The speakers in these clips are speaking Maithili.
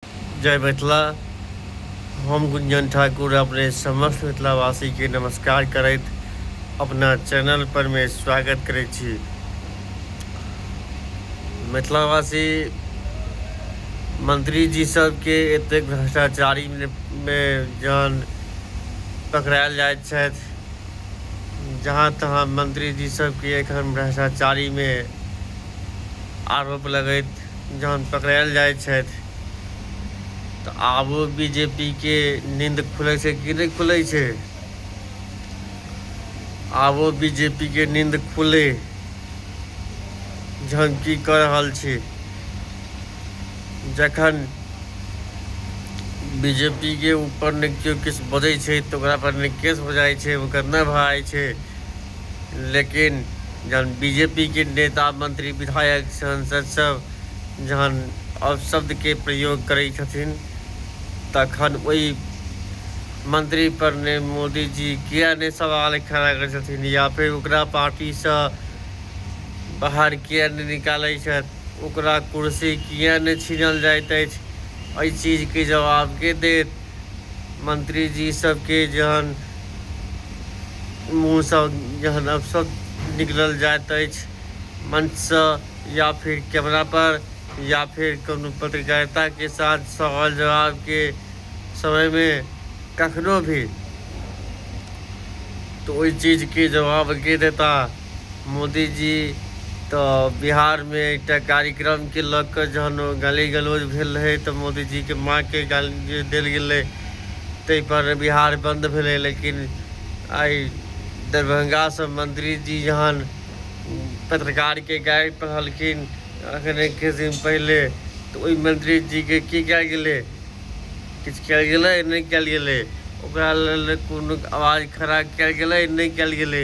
जय मिथिला हम गुंजन ठाकुर अपने समस्त मिथिलावासी के नमस्कार करैत अपना चैनल पर में स्वागत करे छी मिथिलावासी मंत्री जी सब के एते भ्रष्टाचारी में जान पकड़ायल जाइत छथि जहाँ तहाँ मंत्री जी सब के एखन भ्रष्टाचारी में आरोप लगैत जहन पकड़ायल जाइ छथि तऽ आबो बीजेपीके नींद खुलै छै कि नहि खुलै छै आबो बीजेपीके नींद खुले जहन की कऽ रहल छी जखन बीजेपीके ऊपर ने केओ किछु बजै छै तऽ ओकरापर ने केस हो जाइ छै ओकर नहि भऽ जाइ छै लेकिन जहन बी जे पी के नेता मंत्री विधायक सांसद सब जहन अपशब्दके प्रयोग करै छथिन तखन ओहि मंत्री पर ने मोदी जी किया नहि सवाल खड़ा करै छथिन या फेर ओकरा पार्टीसँ बाहर किया नहि निकालै छथि ओकरा कुर्सी किया नहि छीनल जाइत अछि एहि चीजके जवाब के देत मंत्रीजीसभके जहन मुँहसँ जहन अपशब्द निकलल जाइत अछि मंचसँ या फिर कैमरापर या फिर कोनो पत्रकारिताके साथ सवाल जवाबके समयमे कखनो भी तऽ ओहि चीजके जवाब के देता मोदी जी तऽ बिहारमे एकटा कार्यक्रमके लऽ कऽ जहन ओ गाली गलौज भेल रहै तऽ मोदीजीके माँके गाली देल गेलै ताहिपर बिहार बन्द भेलै लेकिन आइ दरभंगासँ मन्त्रीजी जहन पत्रकारके गारि पढ़लखिन अखने किछु दिन पहिले तऽ ओहि मन्त्रीजीके की कयल गेलै किछु कयल गेलै नहि कयल गेलै ओकरा लेल कोनो आवाज खड़ा कयल गेलै नहि कयल गेलै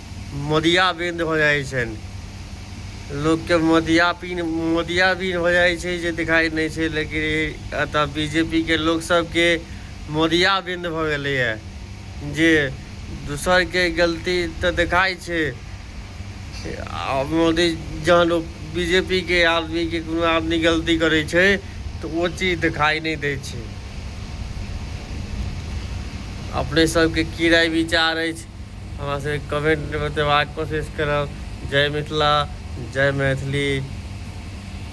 मोदिया बिंद हो जाइ छनि लोकके मोदिया पिन मोदिया बिन हो जाइ छै जे देखाइ नहि छै लेकिन एतऽ बी जे पी के लोक सबके मोदिया बिंद भऽ गेलैए जे दोसरके गलती तऽ देखाइ छै आ मोदी जहन बी जे पी के आदमीके कोनो आदमी गलती करै छै तऽ ओ चीज देखाइ नहि दै छै अपने सबके की राय विचार अछि हमरा से कमेंट में बतेबाक कोशिश करब जय मिथिला जय मैथिली